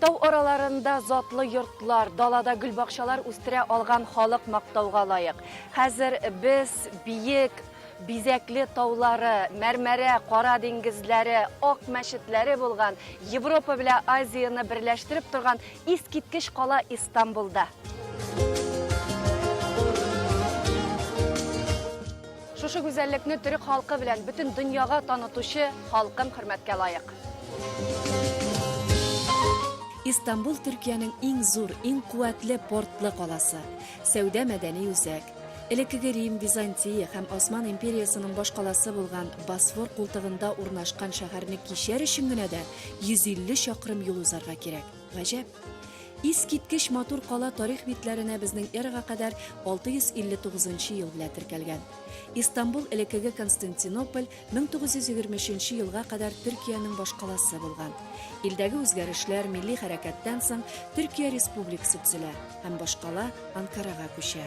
Тау араларында затлы йортлар, далада гөлбакчалар үстерә алган халык мактауга лаек. Хәзер без биек, бизәкле таулары, мәрмәрә, кара диңгезләре, ак мәчетләре булган, Европа белән Азияны берләштереп торган Искиткеч кала Истанбулда. Шушы гүзәллекне төрек халкы белән бөтен дөньяга танытучы халкым хөрмәткә лаек. Истанбул Төркиянең иң зур, иң куәтле портлы каласы, сәүдә-мәдәни үзәк. Элеккеге Рим, Византия һәм Осман империясының башкаласы булган Босфор култыгында урнашкан шәһәрне кичәр өчен генә дә 150 чакрым юл узарга кирәк. Гаҗәп. Искиткеч матур кала тарих битләренә безнең эрага кадәр 659 ел белән теркәлгән. Истанбул элеккеге Константинополь 1923 елга кадәр Төркиянең башкаласы булган. Илдәге үзгәрешләр, милли хәрәкәттән соң Төркия республикасы төзелә һәм башкала Анкарага күчә.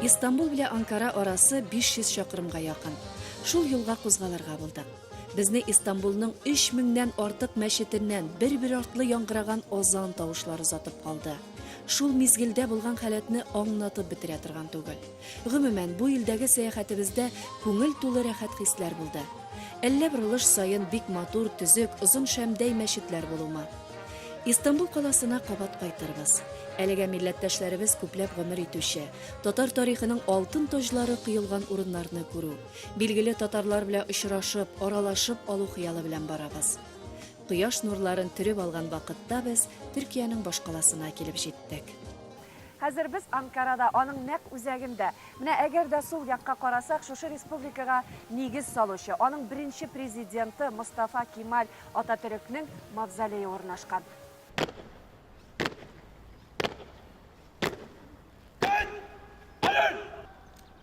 Истанбул белән Анкара арасы 500 чакрымга якын. Шул юлга кузгалырга булдык. Безне Истанбулның 3000 нән артык мәчетеннән бер-бер артлы яңгыраган азан тавышлары озатып калды. Шул мизгелдә булган халәтне аңнатып бетерә торган түгел. Гомумән, бу илдәге сәяхәтебездә күңел тулы рәхәт хисләр булды. Әллә борылыш саен бик матур, төзек, озын шәмдәй мәчетләр булума. Истанбул каласына кабат кайтырбыз. Әлегә милләттәшләребез күпләп гомер итүче, татар тарихының алтын таҗлары коелган урыннарны күрү, Билгеле татарлар белән очрашып, аралашып алу хыялы белән барабыз. Кояш нурларын төреп алган вакытта без Төркиянең башкаласына килеп җиттек. Хәзер без Анкарада, аның нәкъ үзәгендә. Менә әгәр дә сул якка карасак, шушы республикага нигез салучы, аның беренче президенты Мостафа Кемаль Ататөрекнең мавзолее урнашкан.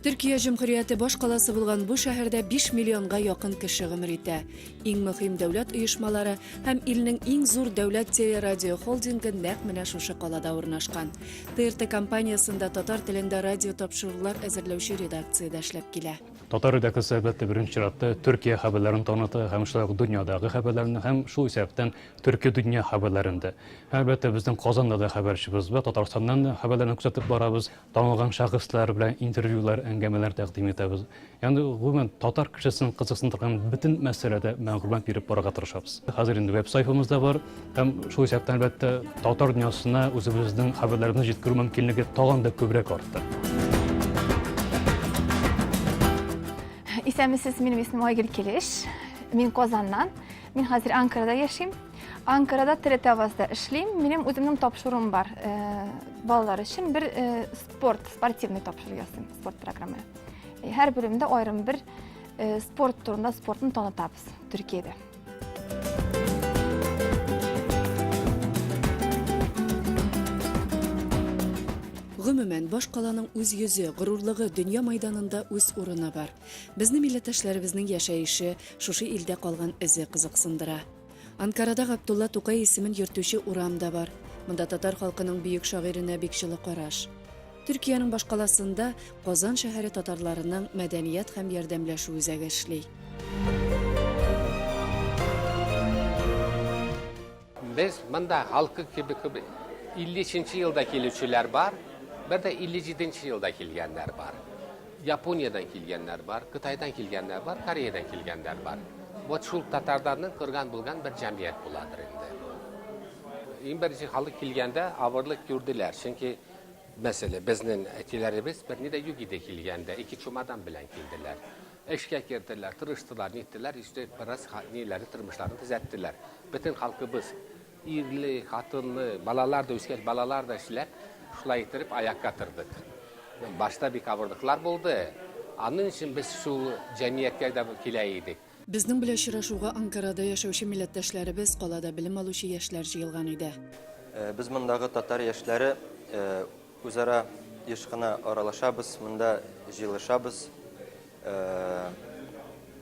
Төркия җөмһүрияте баш каласы булган бу шәһәрдә 5 миллионга якын кеше гомер итә. Иң мөһим дәүләт оешмалары һәм илнең иң зур дәүләт телерадио холдингы нәкъ менә шушы калада урнашкан. ТРТ компаниясендә татар телендә радио тапшырулар әзерләүче редакциядә эшләп килә. Татар редакциясе, әлбәттә, беренче чиратта Төркия хәбәрләрен таныта һәм шулай ук дөньядагы хәбәрләрне һәм шул исәптән Төрки дөнья хәбәрләрен дә, әлбәттә, безнең Казанда да хәбәрчебез бар, Татарстаннан да хәбәрләрне күзәтеп барабыз, танылган шәхесләр белән интервьюлар, әңгәмәләр тәкъдим итәбез. Ягъни, гомумән, татар кешесен кызыксындырган бөтен мәсьәләдә мәгълүмат биреп барырга тырышабыз. Хәзер инде веб-сайтыбыз да бар һәм шул исәптән, әлбәттә, татар дөньясына үзебезнең хәбәрләребезне җиткерү мөмкинлеге тагын да күбрәк артты. Исәнмесез, минем исемем Айгөл Килеш. Мин Казаннан. Мин хәзер Анкарада яшим. Анкарада Телетавазда эшлим. Минем үземнең тапшыруым бар. Э, балалар өчен бер э, спорт, спортивный тапшыру ясыйм, спорт программы. Э, һәр бөлемдә аерым бер спорт турында спортны танытабыз Төркиядә. Гомумән, баш каланың үз йөзе, горурлыгы, дөнья майданында үз урыны бар. Безне милләттәшләребезнең яшәеше, шушы илдә калган эзе кызыксындыра. Анкарада Габдулла Тукай исемен йөртүче урам да бар. Монда татар халкының бөек шагыйренә бик җылы караш. Төркиянең башкаласында Казан шәһәре татарларының мәдәният һәм ярдәмләшү үзәге эшли. Без монда халкы кебек үк 53 нче елда килүчеләр бар, бер дә 57 нче елда килгәннәр бар. Япониядән килгәннәр бар, Кытайдан килгәннәр бар, Кореядән килгәннәр бар. Вот шул татарларның корган булган бер җәмгыять буладыр инде бу. Иң беренче халык килгәндә авырлык күрделәр, чөнки мәсәлә, безнең әтиләребез берни дә юк иде килгәндә, ике чумадан белән килделәр. Эшкә керделәр, тырыштылар, ниттеләр, иштек, бераз ниләре, тормышларын төзәттеләр. Бөтен халкыбыз ирле, хатынлы, балалар да үскәч, балалар да эшләп, шулай иттереп аякка тордык. Башта бик авырлыклар булды. Аның өчен без шул җәмгыятькә дә килә идек. Безнең белән очрашуга Анкарада яшәүче милләттәшләребез, калада белем алучы яшьләр җыелган иде. Без мондагы татар яшьләре Үзара еш кына аралашабыз, монда җыелышабыз.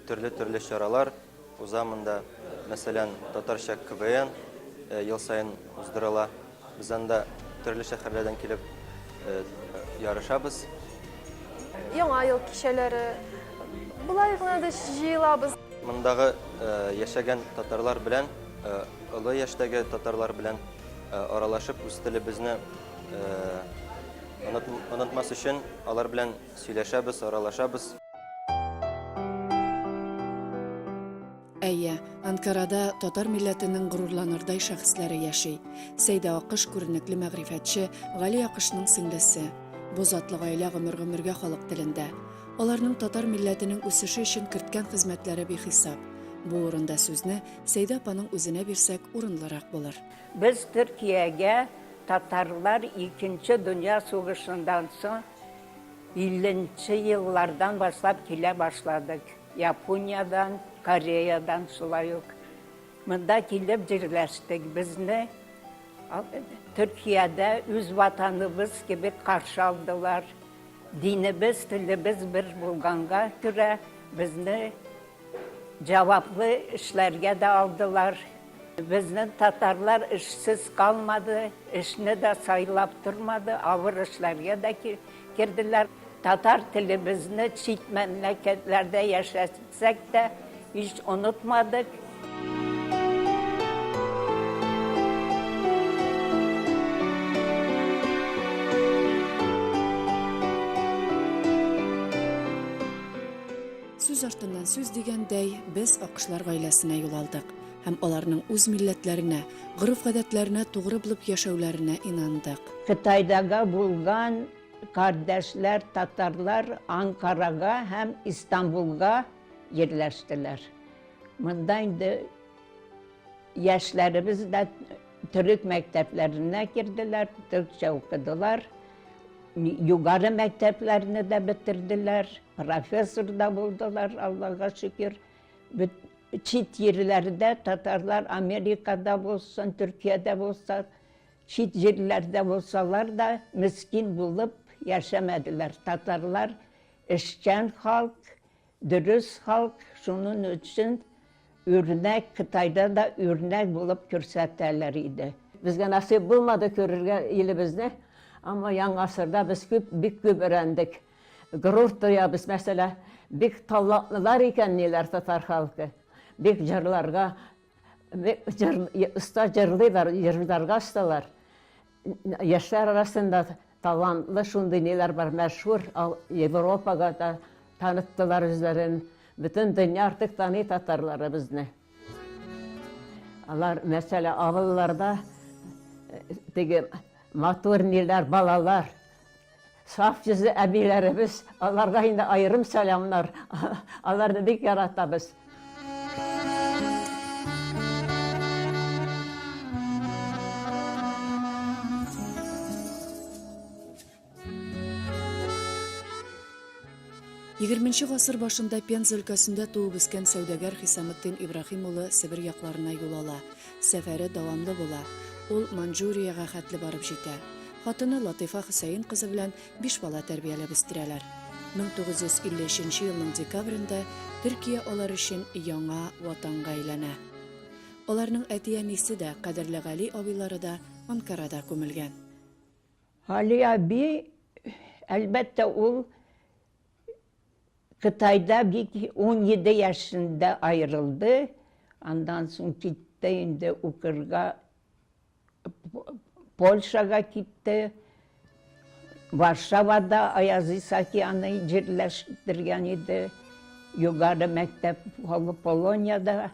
Төрле-төрле чаралар уза монда. Мәсәлән, татарча КВН ел саен уздырыла. Без анда төрле шәһәрләрдән килеп ярышабыз. Яңа ел кичәләре болай гына да җыелабыз. Мондагы яшәгән татарлар белән, олы яшьтәге татарлар белән аралашып, үз телебезне Онытмас өчен алар белән сөйләшәбез, аралашабыз. Әйе, Анкарада татар милләтенең горурланырдай шәхесләре яши. Сәйдә Акыш күренекле мәгърифәтче Гали Акышның сеңлесе. Бу затлы гаилә гомер-гомергә халык телендә. Аларның татар милләтенең үсеше өчен керткән хезмәтләре бихисап. Бу урында сүзне Сәйдә апаның үзенә бирсәк, урынлырак булыр. Без Төркиягә татарлар Икенче дөнья сугышыннан соң илленче еллардан башлап килә башладык. Япониядән, Кореядән шулай ук монда килеп җирләштек. Безне Төркиядә үз ватаныбыз кебек каршы алдылар. Динебез, телебез бер булганга күрә, безне Җаваплы эшләргә дә алдылар. Безнең татарлар эшсез калмады, эшне дә сайлап тормады, авыр эшләргә дә керделәр. Татар телебезне чит мәмләкәтләрдә яшәсәк тә һич онытмадык. Сүз артыннан сүз дигәндәй, без акышлар гаиләсенә юл алдык һәм аларның үз милләтләренә, гореф-гадәтләренә тугры булып яшәүләренә инандык. Кытайдагы булган кардәшләр татарлар Анкарага һәм Истанбулга йирләштеләр. Монда инде яшьләребез дә. Төрек мәктәпләренә керделәр, төркчә укыдылар. Югары мәктәпләрне дә бетерделәр, профессор да булдылар, Аллага шөкер. Чит җирләрдә татарлар Америкада булсын, Төркиядә булса, чит җирләрдә булсалар да, мескин булып яшәмәделәр. Татарлар эшчән халык. Дөрес халк шунын өчен үрнәк кытайда да үрнәк булып күрсәтәләр иде. Безгә насыйп булмады күрергә илебезне, әмма яңа гасырда без күп бик күп өрәндек. Горур тоябыз, мәсәлә, бик талантлылар икән ниләр татар халкы. Бик җырларга бик җыр оста җырлыйлар, җырларга осталар. Яшьләр арасында талантлы шундый ниләр бар, мәшһүр Европага да таныттылар үзләрен. Бөтен дөнья артык таный татарларыбызны. Алар, мәсәлән, авылларда теге матур ниләр, балалар, Саф йөзле әбиләребез, аларга инде аерым сәламнар. Аларны бик яратабыз. Егерменче гасыр башында Пенза өлкәсендә туып үскән сәүдәгәр Хисаметдин Ибраһим улы Себер якларына юл ала. Сәфәре дәвамлы була. Ул Маньчжуриягә хәтле барып җитә. Хатыны Латыйфа Хөсәен кызы белән биш бала тәрбияләп үстерәләр. 1953 елның декабрендә Төркия алар өчен яңа ватанга әйләнә. Аларның әти-әнисе дә, кадерле Гали абыйлары да Анкарада күмелгән. Гали әби, әлбәттә, ул Кытайда бик унҗиде яшендә аерылды, аннан соң китте инде укырга, Польшага китте, Варшавада Аяз Исаакияны җирләштергән иде, югары мәктәп, Полониядә.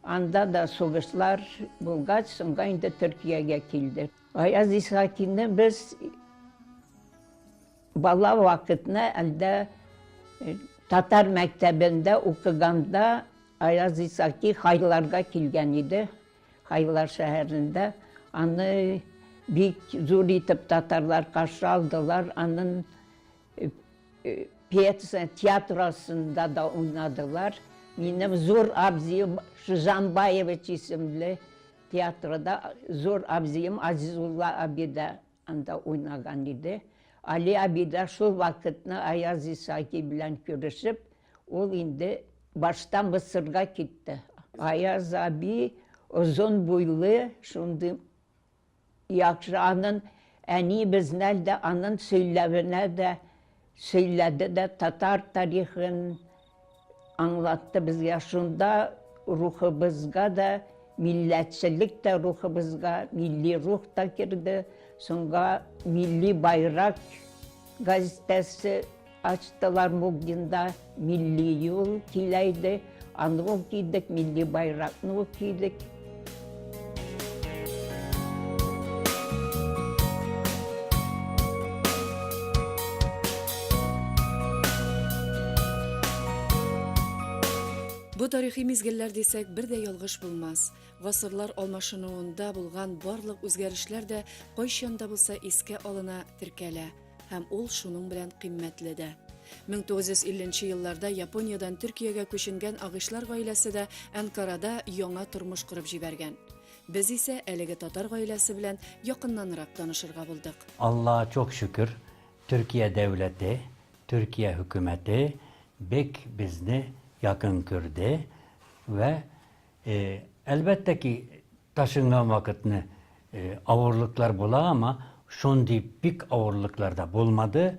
Анда да сугышлар булгач, соңга инде Төркиягә килде. Гаяз Исхакины без бала вакытны әлдә э, татар мәктәбендә укыганда Аяз Исаки Хайларга килгән иде. Хайлар шәһәрендә аны бик зур итеп татарлар каршы алдылар. Анын пьеса театрасында да уйнадылар минем зур абзыем Шизанбаевич исемле театрда зур абзыем Азизулла абый да анда уйнаган иде Али абый да шул вакытны Аяз Исаки белән күрешеп ул инде башта Мысырга китте Аяз абый озын буйлы шундый Яхшы анын әни безнән дә анын сөйләвенә дә сөйләде дә татар тарихын аңлатты безгә шунда рухыбызга да милләтчелек тә рухыбызга милли рух та керде сонга милли байрак газетәсе Ачтылар Мукдинда милли юл киләйде, аны ук кидек, милли байракны ук кидек. Бу тарихи мизгелләр дисәк, бер дә ялгыш булмас. Гасырлар алмашынуында булган барлык үзгәрешләр дә кайчан да булса искә алына, теркәлә. Һәм ул шуның белән кыйммәтле дә. 1950 нче елларда Япониядән Төркиягә күченгән Агышлар гаиләсе дә Әнкарада яңа тормыш корып җибәргән. Без исә әлеге татар гаиләсе белән якыннанрак танышырга булдык. Аллага чок шөкер, Төркия дәүләте, Төркия хөкүмәте бек безне якын көрде вә, әлбәттә ки, Ташынган вакытны авырлыклар була ама шундый бик авырлыклар да булмады,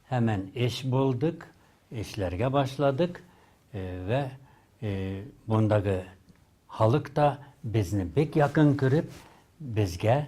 һәман эш булдык, эшләргә башладык вә мондагы халык та безне бик якын күреп, безгә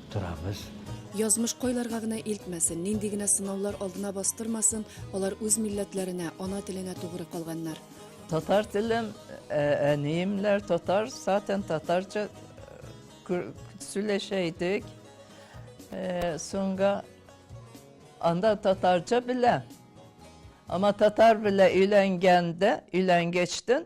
торабыз. Язмыш кайларга гына илтмәсен, нинди генә сынаулар алдына бастырмасын, алар үз милләтләренә, ана теленә тугры калганнар. Татар телем, әниемләр татар, сатен татарча сөйләшә идек. Соңга анда татарча белә. Ама татар белә өйләнгәндә, өйләнгәчтен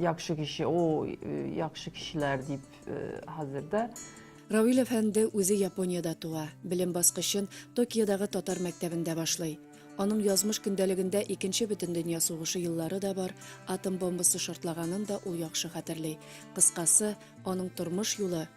Яхшы кеше, о, яхшы кешеләр дип хәзер дә. Равил әфәнде үзе Япониядә туа, белем баскычын Токиодагы татар мәктәбендә башлый. Аның язмыш көндәлегендә Икенче бөтендөнья сугышы еллары да бар, атом бомбасы шартлаганын да ул яхшы хәтерли. Кыскасы, аның тормыш юлы,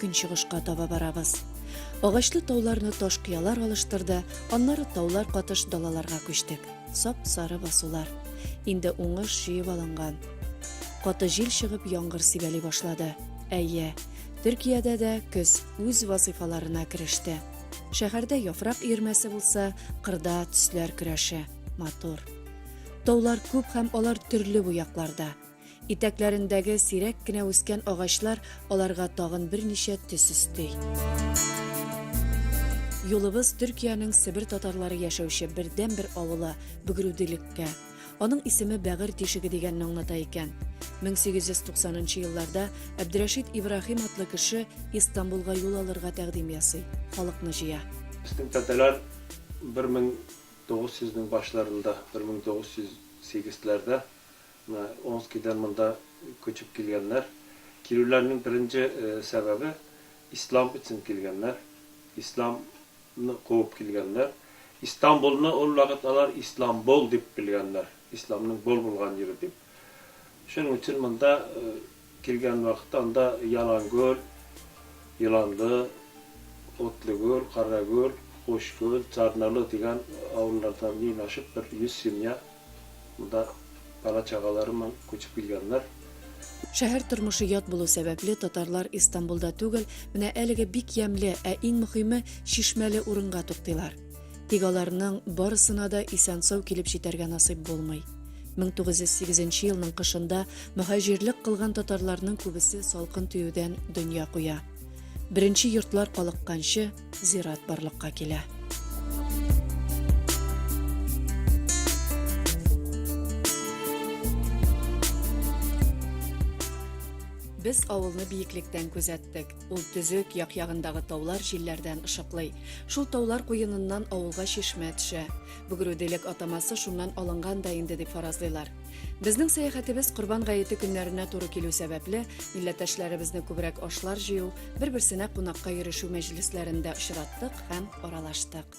Көнчыгышка таба барабыз. Агачлы тауларны таш кыялар алыштырды, аннары таулар катыш далаларга күчтек. Сап-сары басулар. Инде уңыш җыеп алынган. Каты җил чыгып, яңгыр сибәли башлады. Әйе, Төркиядә дә көз үз вазыйфаларына кереште. Шәһәрдә яфрак өермәсе булса, кырда төсләр көрәше. Матур. Таулар күп һәм алар төрле буякларда. Итәкләрендәге сирәк кенә үскән агачлар аларга тагын берничә төс өсти. Юлыбыз Төркиянең Себер татарлары яшәүче бердәнбер авылы Бөгрүдилеккә. Аның исеме Бәгырь тишеге дигәнне аңлата икән. 1890 елларда Әбдрәшид Ибраһим атлы кеше Истанбулга юл алырга тәкъдим ясый, халыкны җыя. Безнең тәтәләр 1900 нең башларында, 1908 ләрдә Менә Омскидан монда күчеп килгәннәр. Килүләренең беренче сәбәбе, ислам өчен килгәннәр. Исламны куып килгәннәр. Истанбулны ул вакыт алар Исламбол дип белгәннәр, исламның бул булган җире дип. Шуның өчен монда Килгән вакыт анда Ялангүл, Еланлы, Утлыгүл, Карагүл, Кучкүл, Царналы дигән авыллардан мин ачып бер 100 семья монда бала-чагалары белән күчеп килгәннәр. Шәһәр тормышы ят булу сәбәпле, татарлар Истанбулда түгел, менә әлеге бик ямьле, ә иң мөхиме, чишмәле урынга туктыйлар. Тик аларның барысына да исән-сау килеп җитәргә насыйп булмый. 1908 елның кышында мөхәҗирлек кылган татарларның күбесе салкын тиюдән дөнья куя. Беренче йортлар калыкканчы зират барлыкка килә. Без авылны биеклектән күзәттек. Ул төзек, як-ягындагы таулар җилләрдән ышыклый. Шул таулар куеныннан авылга чишмә төшә. Бөгрүделек атамасы шуннан алынган да инде дип фаразлыйлар. Безнең сәяхәтебез Корбан гаете көннәренә туры килү сәбәпле, милләттәшләребезне күбрәк ашлар җыю, бер-берсенә кунакка йөрешү мәҗлесләрендә очраттык һәм аралаштык.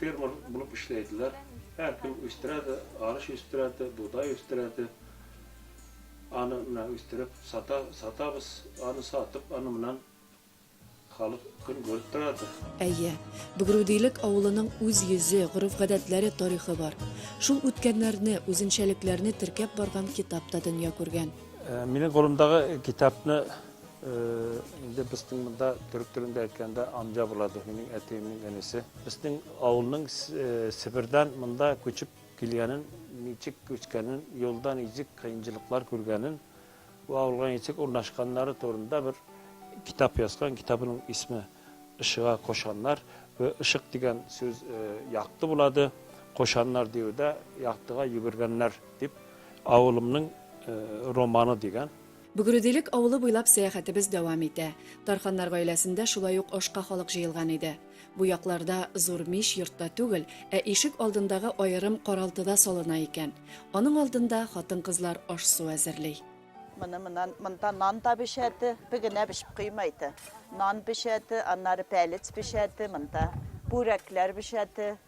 Фермер булып эшләйдиләр. Һәркем үстерә дә, арыш үстерә дә, бодай үстерә дә. Аны менә үстереп сата, сатабыз. Аны сатып, аны моннан халык көн күреп тора дә. Әйе, Бөгрүдилек авылының үз йөзе, гореф-гадәтләре, тарихы бар. Шул үткәннәрне, үзенчәлекләрне теркәп барган китап та дөнья күргән. Минем кулымдагы китапны Инде безнең монда төрек телендә әйткәндә амҗа була ди, минем әтиемнең энесе. Безнең авылның Себердән монда күчеп килгәнен, ничек күчкәнен, юлда ничек кыенчылыклар күргәнен, бу авылга ничек урнашканнары турында бер китап язган. Китабының исме Ишыга кошаннар вә ишык дигән сүз якты булады. Кошаннар диюдә яктыга йөгергәннәр дип, авылымның романы дигән. Бөгределек авылы буйлап сәяхәтебез дәвам итә. Тарханнар гаиләсендә шулай ук ашка халык җыелган иде. Бу якларда зур мич йортта түгел, ә ишек алдындагы аерым каралтыда салына икән. Аның алдында хатын-кызлар аш-су әзерли. Моны монан, монда нан да пешәте, бе генә пешеп куймайды. Нан пешәте, аннары пәлец пешәте, монда бүрәкләр пешәте,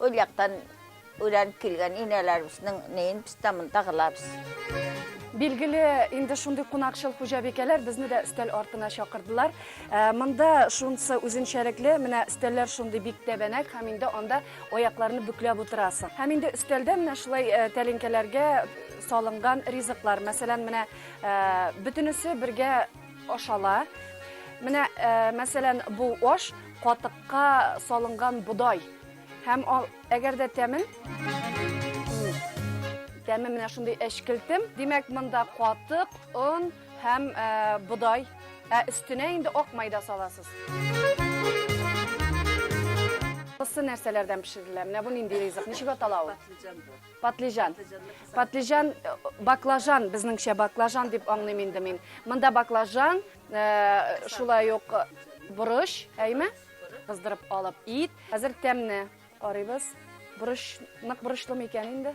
Ул яктан өйрәнеп килгән инәләребезнең неен без дә монда кылабыз. Билгеле, инде шундый кунакчыл хуҗабикәләр безне дә өстәл артына чакырдылар. Ә, Монда шунысы үзенчәлекле, менә өстәлләр шундый бик тәбәнәк һәм инде анда аякларны бөкләп утырасың. Һәм инде өстәлдә менә шулай э, тәлинкәләргә салынган ризыклар, мәсәлән, менә э, бөтенесе бергә ашала. Менә, э, мәсәлән, бу аш катык Ка салынган бодай. Һәм ал, әгәр дә тәмен тәме менә шундый әчкелтем. Димәк, монда катык, он һәм ә, бодай. Ә өстенә инде ак майда саласыз. Кысы нәрсәләрдән пешерелә? Менә бу нинди ризык? Ничек атала ул? Патлижан. Патлижан, баклажан, безнеңчә баклажан дип аңлыйм инде мин. Монда баклажан, Ә, шулай ук борыч, әйме? Кыздырып алып ит. Хәзер тәмне карыйбыз. Борыч, нык борычлы микән инде?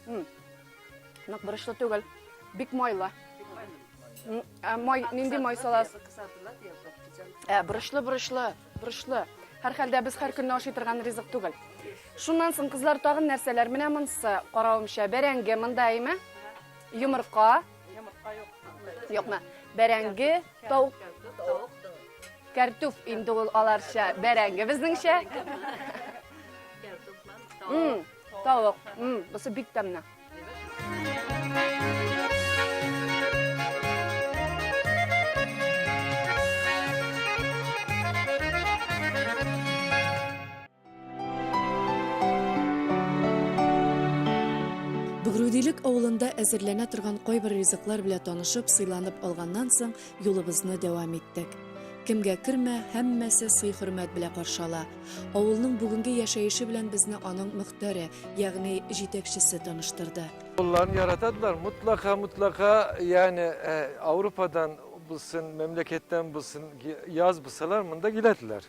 М. Нык борычлы түгел. Бик майлы. Ә, май, нинди май салас? Ә, борычлы, борычлы, борычлы. Һәр хәлдә без һәр көнне ашый торган ризык түгел. Шуннан соң кызлар тагын нәрсәләр? Менә монсы, каравымча, бәрәңге, монда әйме? Йомырка, Йомырка юк. Юкмы? Бәрәңге, тавык. Кәртүф инде ул аларча, бәрәңге безнеңчә. Тавык. Бусы бик тәмле. Бөгрүдилек авылында әзерләнә торган кайбер ризыклар белән танышып, сыйланып алганнан соң, юлыбызны дәвам иттек. Кемгә кермә, һәммәсе сый-хөрмәт белән каршы ала. Авылның бүгенге яшәеше белән безне аның мөхтәре, ягъни җитәкчесе таныштырды. Авылларын яратадылар, мотлака, мотлака, ягъни Ауропадан булсын, мәмләкәттән булсын, яз булсалар, монда киләдиләр.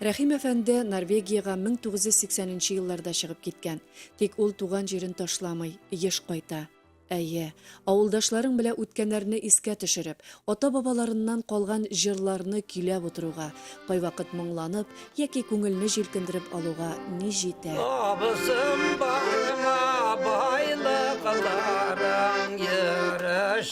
Рәхим әфәнде Норвегиягә 1980 нче елларда чыгып киткән. Тик ул туган җирен ташламый, еш кайта. Әйе, авылдашларың белә үткәннәрне искә төшереп, ата-бабаларыннан калган җырларны көйләп утыруга, кайвакыт моңланып яки күңелне җилкендереп алуга ни җитә! Абыйсым, барыңа байлыкларың, йөреш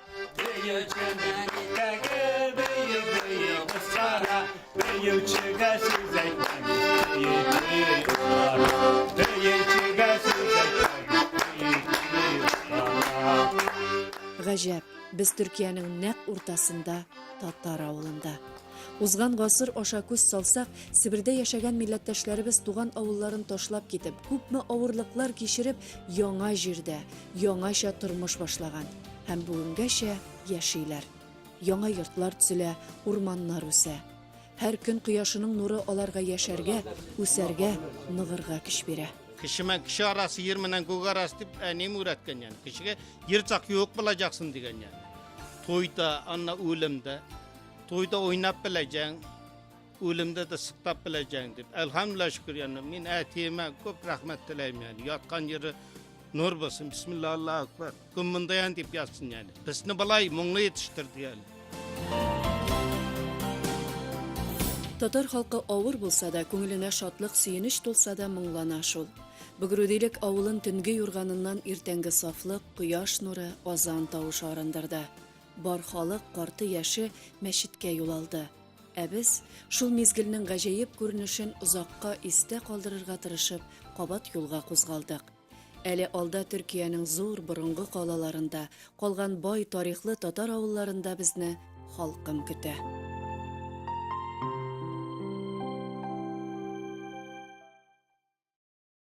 Гаҗәп, без Төркиянең нәкъ уртасында, татар авылында. Узган гасыр аша күз салсак, Себердә яшәгән милләттәшләребез туган авылларын ташлап китеп, күпме авырлыклар кичереп, яңа җирдә, яңача тормыш башлаган. һәм бүгенгәчә яшиләр. Яңа йортлар төзелә, урманнар үсә. Һәр көн кояшының нуры аларга яшәргә, үсәргә, ныгырга көч бирә. Кешемен кеше арасы, ер менен күк арасы дип әнием өйрәткән яны. Кешегә ерцак юк булачаксың дигән яны. Туйда, анна үлемдә. Туйда уйнап беләҗәң, үлемдә дә сыктап беләҗәң дип. Әлхәмдүлилләһ шөкер яны. Мин әтиемә күп рәхмәт теләймен. Яткан җире нур булсын. Бисмиллаһ, Аллаһу акбар. Кем монда ян дип ятсын әле. Безне былай моңлы җитештерде әле. Татар халкы авыр булса да, күңеленә шатлык, сөенеч тулса да моңлана шул. Бөгрүдилек авылын төнге юрганыннан иртәнге сафлык, кояш нуры, азан тавышы арындырды. Бар халык, карты яше мәчеткә юл алды. Ә без шул мизгелнең гаҗәеп күренешен озакка истә калдырырга тырышып, кабат юлга кузгалдык. Әле алда Төркиянең зур борынгы калаларында, калган бай тарихлы татар авылларында безне халкым көтә.